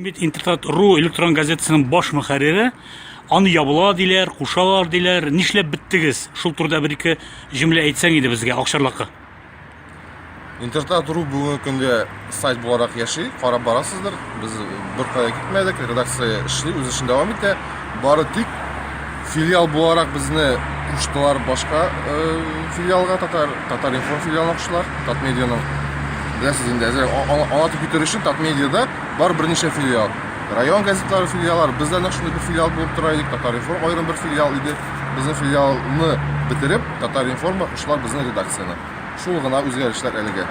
Мин бит Интертат ру электрон газетасының баш мөхәррире. Аны ябыла диләр, кушалар диләр. Нишләп беттегез? Шул турыда бер ике җөмлә әйтсәң иде безгә акчарлакка. Интертат ру бүгенге көндә сайт буларак яши, карап барасыздыр. Без беркая китмәдек, редакция эшли, үз эшен дәвам итә. Бары тик филиал буларак безне куштылар башка э, филиалга, татар, татар информ филиалына куштылар, Татмедианың. Беләсез инде, әзер аңлатып китер өчен Татмедиада бар берничә филиал. Район газетлары филиаллар, без дә шундый бер филиал булып тора идек, Татар информ аерым бер филиал иде. Безнең филиалны бетереп, Татар информга куштылар безнең редакцияне. Шул гына үзгәрешләр әлегә.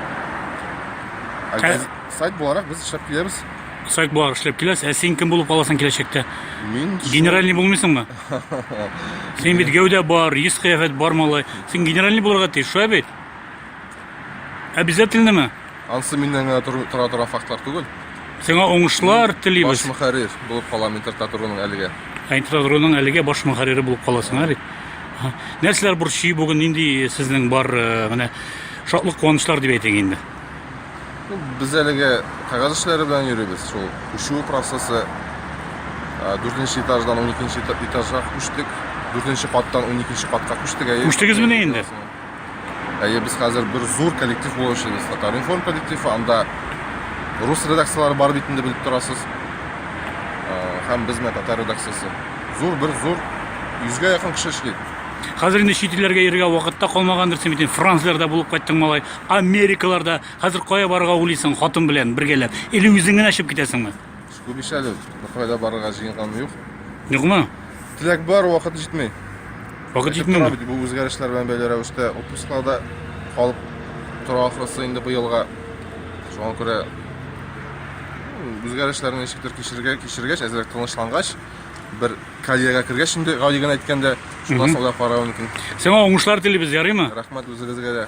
Ә, сайт буларак без эшләп киләбез. Сайт бар, эшләп киләсең. Ә син кем булып каласың киләчәктә? Мин Генеральный булмыйсыңмы? Син бит гәүдә бар, йөз кыяфәт бар малай. Син генеральный булырга тиеш, шулай бит? Обязательнымы? ансы миннән генә тору- тора торган фактлар түгел. Сиңа уңышлар Баш телибез. мөхәррир булып калам интертатуруның әлегә. Ә Интрадроның әлегә баш мөхәррире булып каласың, ә бит? Ага. Нәрсәләр борчый бүген, нинди сезнең бар, э, менә шатлык куанычлар дип әйтик инде. Без әлегә кәгазь эшләре белән йөрибез. Шул күчү процессы 4 этаждан 12 этажга күчтек. 4 каттан 12 катка күчтек. Күчтегезмени инде? Әйе, без хәзер бер зур коллектив булып эшлибез. Татаринформ коллективы, анда рус редакцияләре бар бит инде белеп торасыз. Һәм без менә татар редакциясе. Зур бер зур 100гә якын кеше эшли. Хәзер инде чит илләргә йөрергә вакытта калмагандыр, син бит францларда булып кайттың малай. Америкаларда хәзер кая барырга уйлыйсың хатын белән бергәләп? Или үзең генә чыгып китәсеңме? Күп ич әле. Кайда барырга җыенган юк. Юкмы? Теләк бар, вакыт җитми. Вакыт Әйтеп җитмиме? тора бит, Бу үзгәрешләр белән бәйле рәвештә отпусклар да калып тора ахрысы инде быелга. Шуңа күрә м, үзгәрешләрне ничектер кичергә, кичергәч, әзрәк тынычлангач, бер карьерага кергәч инде гади генә әйткәндә шуннан соң да карау мөмкин Сиңа уңышлар телибез, ярыймы? рәхмәт үзегезгә дә